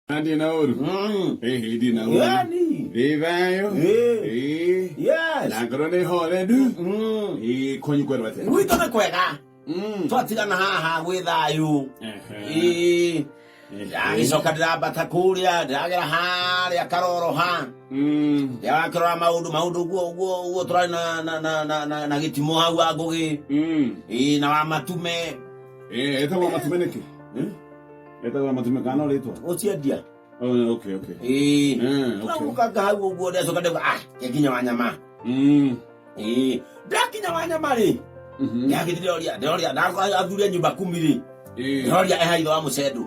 Andi na oru. Mm. Eh, edi na oru. Gani? Rivayo. Eh. Eh. Yes. Na ngoro ni hore du. Mm. Eh, konyi kweru bate. Wito me kwega. Mm. Twatigana haha gwi thayu. Eh. Agĩcoka ndĩrambata kũrĩa ndĩragera harĩa karoroha ndĩrakĩrora mm. maũndũ maũndũ guo guo guo tũrarĩ na gĩtimũ hau wa ngũgĩ mm. na wa matume etagwo matume nĩkĩ hmm? etagwo na mũtumia kana ũrĩtwa ũcio ndia Oh, okay okay ĩĩ Eh, okay. tũragukaga hau ũguo ndacoka ndauga ah nginya wa nyama Mm, ĩĩ ndakinya wa nyama rĩ mhm, ndagĩthi ndoria ndoria ndathura nyũmba kumi rĩ eh, ndoria eha ithe wa mũcendũ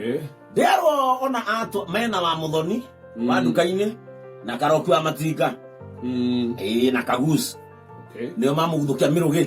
eh, nderwo ona atũ mena wa mũthoni mm, wa nduka-inĩ na karoku wa matinga mm, ĩĩ na kagus okay. nĩo mamũguthũkia mĩrũgĩ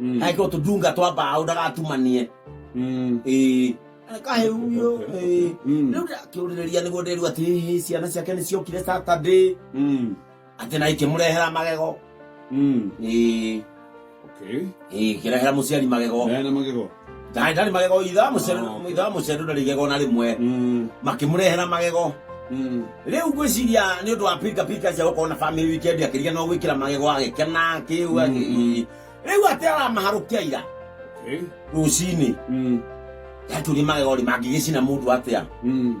Mm. Aika utudunga twa mbaũ ndagatumanie. Mm. Ĩĩ. Kahe huyo. Ĩĩ. Mm. Rĩu ndakĩũrĩrĩria nĩguo ndĩrua atĩ hihi ciana ciake nĩ ciokire Saturday. Mm. Atĩ na ikĩmũrehera magego. Mm. Ĩĩ. Okay. Ĩĩ, ikĩrehera mũciari magego. Ndayana magego. Ndaarĩ ndarĩ magego ithe wa mũcere Ah, okay. ithe wa mũcere ndarĩ igego na rĩmwe Mm, makĩmũrehera magego mm. rĩu ngwĩciria nĩ ũndũ wa pika pika cia gũkorwo na family weekend akĩria no gwĩkĩra magego agĩkena kĩu agĩ- rĩu atĩ aramaharũkia ira Okay. rũcinĩ Mm, yatũria magego rĩ mangĩgĩcina mũndũ atĩa mm.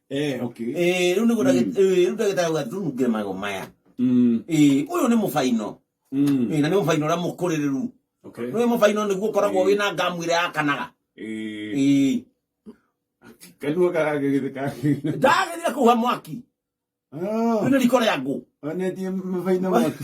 eh okay eh riu niguo ndagä- eh, riu ndagĩtarĩ auga thunge mago maya mm Eh, ũyũ nĩ mũbaino mm Eh, na nĩ mũbaino ũrĩa mũkũrĩrĩru okay nĩ mũbaino nĩguo ũkoragwo wĩ na ngamu ĩrĩa yakanaga eh Eh, kanua karagĩgĩtheka ndagĩrire kũhuha mwaki ah rĩu nĩ riko rĩa ngũ onetie mabaina mwaki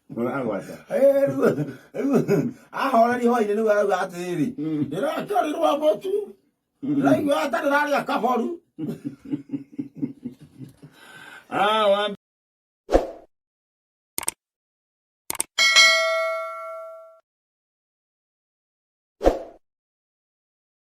mũragwata ahoreri hwainĩ nĩwe auga atĩrĩrĩ ndĩrakĩorirwo mũtu ndĩraigua atarĩ rarĩa kaboru Ah, wa